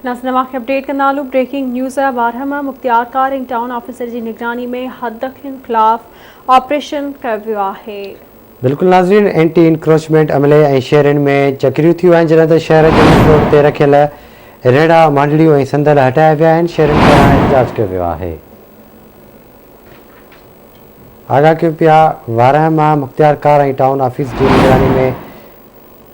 ناظرين اوهان کي اپڊيٽ ڪندا هلون بريڪنگ نيوز ٻارهمه مختيار ڪار ۽ ٽائون آفيسر جي نگراني ۾ حدڪين خلاف آپريشن ڪيو ويو آهي. بلڪل ناظرين اينٽي انڪروچمينٽ عملي ۽ شهرين ۾ چڪريون ٿيون آهن جڏهن ته شهر جي مين روڊ تي رکيل ريڙها مانڊڙيون ۽ صندل هٽايا ويا آهن شهرين پاران احتجاج ڪيو ويو آهي آگاهه ڪيون پيا ٻارهمه مختيار ڪار ۽ ٽائون آفيس جي نگراني ۾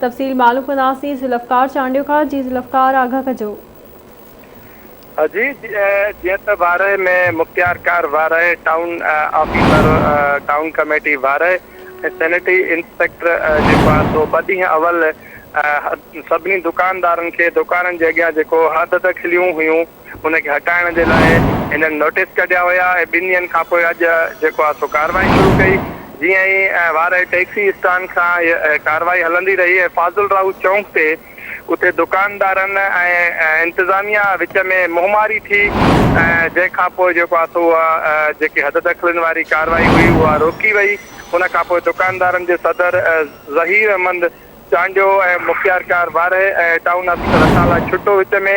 تفصيل معلوم ڪنداسين ذوالفقار چانڊيو کان جي ذوالفقار آگاهه ڪجو. جي جيئن ته وارهه ۾ مختيار ڪار Warah town officer town committee Warah ۽ sanitary inspector جيڪو آهي سو ٻه ڏينهن اول سڀني دڪاندارن کي دڪانن جي اڳيان جيڪو حدد کليون هيون ان کي هٽائڻ جي لاء هنن نوٽيس ڪڍيا هيا ۽ ٻن ڏينهن کان پوء اڄ جيڪو آهي سو ڪارروائي شروع ڪئي جيئن ئي وارهي ٽيڪسي اسٽان کان هيء ڪارروائي هلندي رهي ۽ فاضل راهو چونڪ تي اتي دڪاندارن ۽ انتظاميا وچ ۾ منهن ماري ٿي ۽ جنهن کان پوء جيڪو آهي سو اها جيڪي حد دخلين واري ڪارروائي هئي اها روڪي وئي ان کان پوء دڪاندارن جي صدر ظهير احمد چانڊيو ۽ مختيارڪار وارهي ۽ ٽائون آفيسر اسان لاء ڇٽو وچ ۾